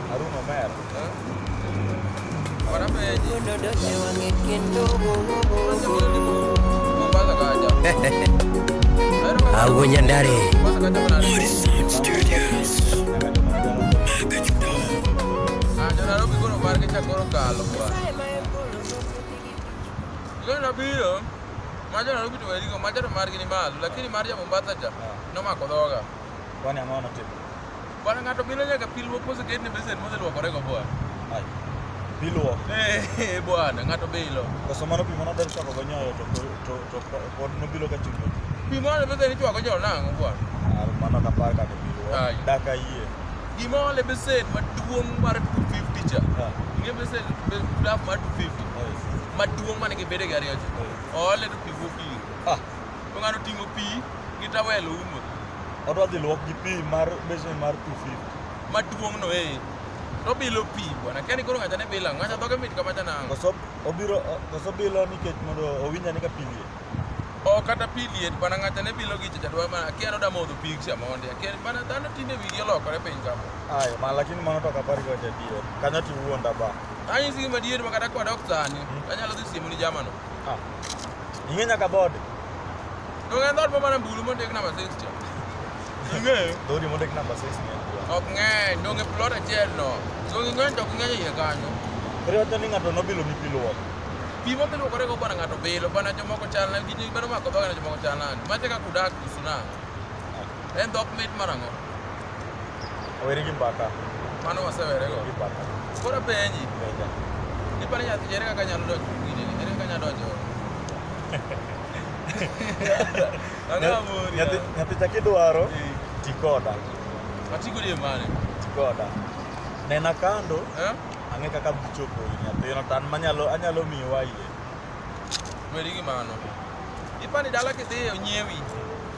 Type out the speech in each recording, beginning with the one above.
Haruna Omer. Agunya ndare. Nabiro maja Nairobi to werigo maja to margi ni malo lakini mar ja Mombasa cha nomako dhoga. Kwani ang'o notimo? Bwana ng'ato bilo nyaka pi luok moseted ne besen moseluokore go bwana. Ai. Pi luok. Eh bwana ng'ato bilo. Koso mano pi mano del chako go nyoyo to to to pod no bilo ka chungo. Pi mano le besen ichwako nyoyo nang'o bwana. Ar mano ka par ka to pi luok. Ai. Daka yie. Gima ole besen maduong' mar 250 cha. Nge besen daf mar 250. Maduong' mane gibede gari ocha. Ole to pi wuok pi. Ah. To ng'ano ting'o pi gi tawel oumo. Odwa dhi luok gi pi mar besen mar 250. Maduong'no eh. To bilo pi bwana. Kani koro ng'ata ne bila. Ng'ata dhoge mit kama janango. Koso obiro koso bilo nikech mondo owinja ni ka pi liet. O kata pi liet bwana ng'ata ne bilo gi chacha dwa ma akia no da modho pi sia monde. Akia bwana dhano tinde wigi olokore piny kama. Ayo ma lakini mano to kapari kwa jadiyo. Kanyo ti wuonda ba. Anyi sigi madier ma kata kwa dok sani. Anyalo dhi siemo ni jamano. Ah. Ing'e nyaka bod. Donge ndot ma mana mbulu mondik namba 6 cha. Ing'eyo? Dodi mondik namba 6 ni. Ok ng'eny, donge plot achiel no. Donge ng'eny to ok ng'eny iye kanyo. Koro wacho ni ng'ato nobilo ni piluok. Pi ma kiluokore go bwana ng'ato bilo, bwana jomoko chal na gini bado mako dhoga na jomoko chal nani. Mate ka kudak kusuna. En dhok mit marang'o? Awere gi mbata. Mano wasewere go. Gi mbata. Koro penji. Penja. Ipani nyathi jere kaka nyalo donjo gini, jere kaka nyalo donjo. Nyathi chaki dwaro tikoda. Atiko die mane? Tikoda. Nena kando. Eh? Ang'e kaka bichopo nyathino tan manyalo anyalo miyo wayie. Weri gi mano. Ipani dala kidhi onyiewi.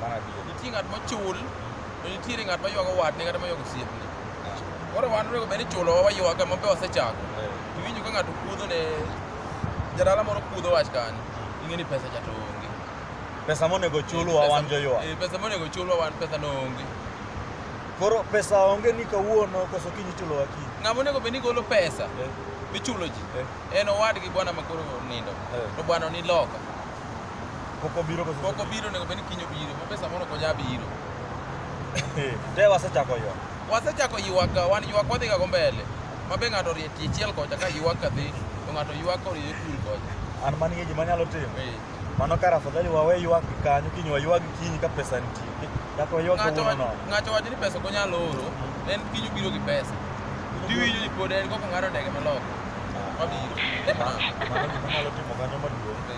Mano adier. Nitie ng'at mochul, to nitiere ng'at maywago watne kata maywago osiepne. Ah, Koro wan onego bed ni chulowa waywaga ma be wasechako. eh, Iwinjo ka ng'ato kudho ne jadala moro kudho wach kanyo, ing'e ni pesa cha to onge. Pesa monego chulwa Pesa- wan joywa. eh, Pesa monego chulwa wan pesa no onge. Koro pesa onge ni kawuono koso kiny ichulowa kiny. Ng'ama onego bed ni golo pesa Eh, michulo ji eh, en owadgi bwana makoro nindo eh. to bwana ni loka Pok obiro koso. Pok obiro nego beni kinyo biro. Bobe samoro konya biro. Te wasechako yo. Wasechako ywak wan ywak wadhi ga go mbele. Mabe ng'ato rie tie chiel kocha ka ywak ka dhi. To ng'ato ywak ko rie kul kocha. An man gi gima nyalo timo. Eh. Mano kar afadhali wawe ywak kanyo kinyo ywak kinyi ka pesa nitie. Kata ywak ng'ato no. Ng'ato wacho ni pesa konyalo oro. En kinyo biro gi pesa. Tiwinjo ni pod en koko ng'ado ndege maloko. Mabiro. Mano gima nyalo timo kanyo maduong'.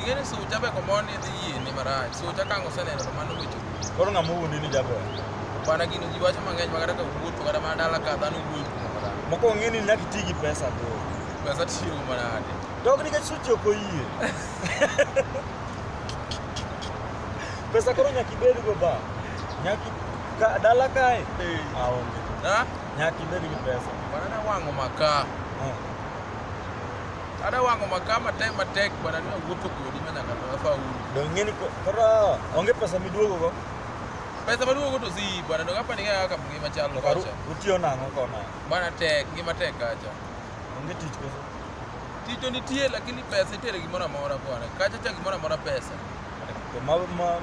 Ing'e ni sucha be komoro ni dhi yie ni marach. Sucha kang' oseneno to mano wecho. Koro ng'ama owuondi ni jaber. Bana gino ji wacho mang'eny ma kata ka wuotho kata mana dala ka dhano wuoyo kuom marach. Mokwongo ing'e ni nyaka iti gi pesa bro. Pesa tiyo manade. Dok nikech suchi ok oyie. Pesa koro nyaka ibed go ba. Nyaka i- ka dala kae. Eh. Aonge. Ha? Nyaka ibed gi pesa. Bana na wang'o makaa. Eh. Ada wango makama time matek bwana ni wuotho kodi ma nyaka to afa uru. Dong ngeni ko kora onge pesa miduogo go. Pesa maduogo to si bwana dong apa ni ga ka ngima chal lo kacha. Utiyo nango kona. Bwana tek ngima tek kacha. Onge tich pesa. Tich to nitie lakini pesa itere gimoro amora bwana. Kacha cha gimoro amora pesa. To ma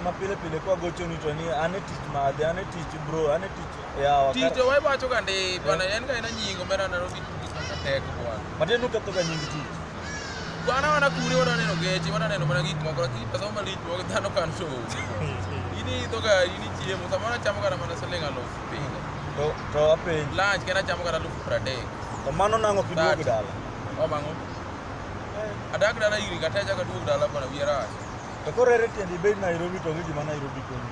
ma pile pile kwa gocho ni to ni ane tich madhe ane tich bro ane tich Yawa. Tito wai wacho ga ndi bwana en ga ina nyingo mera na robi ka tek bwana. Mate nuka to ga nying ti. Bwana wana kuri wana neno gechi wana neno mana gik moko lakini pesa ma lich moko dhano kan to. Ini to ga ini chiemo samana chamo ga mana siling aluf pinga. To to apenj. Lunch kena chamo ga aluf 30. To mano nango kiduogo dala. O mango. Adak dala iri kateja ka duogo dala bwana wiera. To korere tiendi bei Nairobi to gi gima Nairobi koni.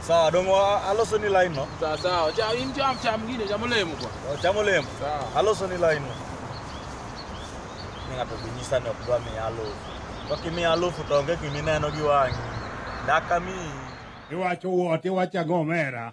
Sawa, dongo aloso ni line no. Sawa sawa. Cha in cha cha mwingine cha mulemu kwa. Oh, cha mulemu. Sawa. Aloso ni line no. Ninga to binyisa no kwa mi alo. Kwa kimi alo futonge kimi neno giwangi. Daka mi. Iwacho wote wacha gomera.